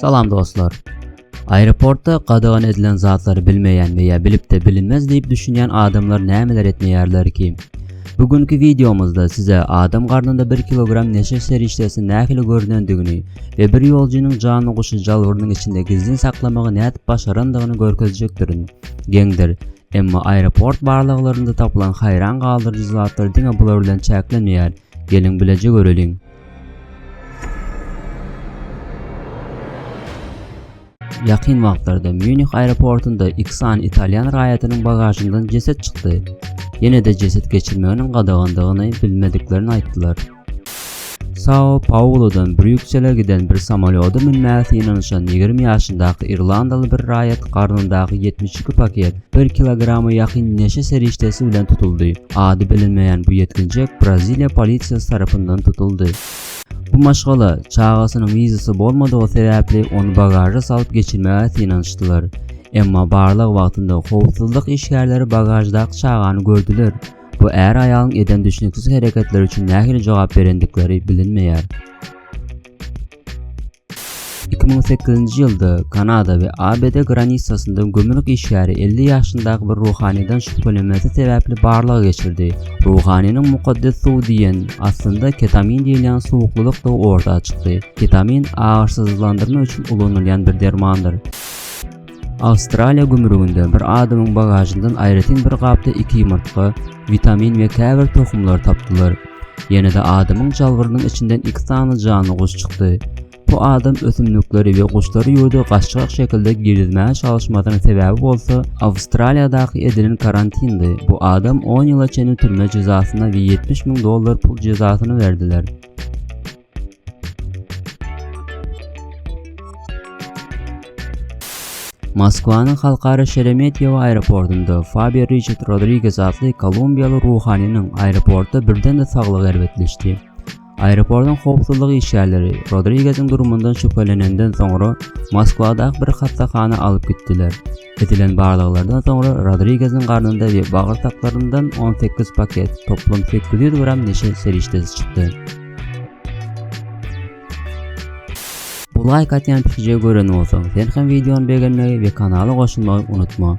Salam dostlar. Aeroportda gadagan edilen zatlary bilmeýän we ýa bilip-de bilinmez diýip düşünýän adamlar nämeler etmeýärler ki? Bu günki wideomyzda size adam garnynda 1 kilogram neşe serişdesi nähili görünendigini we bir ýoljunyň janyny guşy jalbyrynyň içinde gizlin saklamagy nädip başarandygyny görkezjekdirin. Geňdir. Emma aeroport barlaglarynda tapylan haýran galdyryjy zatlar diňe bular bilen çäklenmeýär. Geliň bileje göreliň. Ýakyn wagtlarda Mýunih aeroportunda iki sany italýan raýatynyň bagažyndan jeset çykdy. Ýene-de jeset geçirmeginiň gadagandygyny bilmediklerini aýtdylar. Sao-Paulodan Brýuksele giden bir samolýoda münmäge synanyşan ýigrimi ýaşyndaky irlandaly bir raýat garnyndaky ýetmiş iki paket bir kilograma ýakyn neşe serişdesi bilen tutuldy. Ady bilinmeýän bu ýetginjek Braziliýa polisiýasy tarapyndan tutuldy. Bu maşgala, çagasynyň wizasy bolmadygy sebäpli, ony bagaža salyp geçirmäge synanyşdylar. Emma barlag wagtynda howpsuzlyk işgärleri bagaždaky çagany gördüler. Bu är-aýalyň eden düşnüksiz hereketleri üçin nähili jogap berendikleri bilinmeýär. Iki müň sekizinji ýylda Kanada we ABD granisasynda gümrük işgäri elli ýaşyndaky bir ruhanydan şübhelenmesi sebäpli barlag geçirdi. Ruhanynyň mukaddes suw diýen, aslynda ketamin diýilýän suwuklylykdygy orta çykdy. Ketamin agyrysyzlandyrma üçin ulanylýan bir dermandyr. Awstraliýa gümrüginde bir adamyň bagažyndan aýratyn bir gapda iki ýumurtga, witamin we käbir tohumlar tapdylar. Ýene-de adamyň jalbyrynyň içinden iki sany janly guş çykdy. Bu adam ösümlikleri we guşlary ýurda gaçjak şekilde girizmäge çalyşmasynyň sebäbi bolsa Awstraliýadaky edilen karantindi. Bu adam on ýyla çenli türme jezasyna we ýetmiş müň dollar pul jezasyny berdiler. Moskwanyň Halkara Şeremetýewo aeroportunda Fabio Riçard Rodriges atly kolumbiýaly ruhanynyň aeroportda birden-de saglygy erbetleşdi. Aeroportuň howpsuzlyk işgärleri Rodrigeziň durumyndan şübhelenenden soňra, Moskwadaky bir hassahana alyp gitdiler. Edilen barlaglardan soňra Rodrigeziň garnynda we bagyrsaklaryndn on sekiz paket, toplum sekiz ýüz gram neşe serişdesi çykdy. Like atýan pikije gören bolsaň, sen hem videony begenmegi we kanala goşulmagy unutma.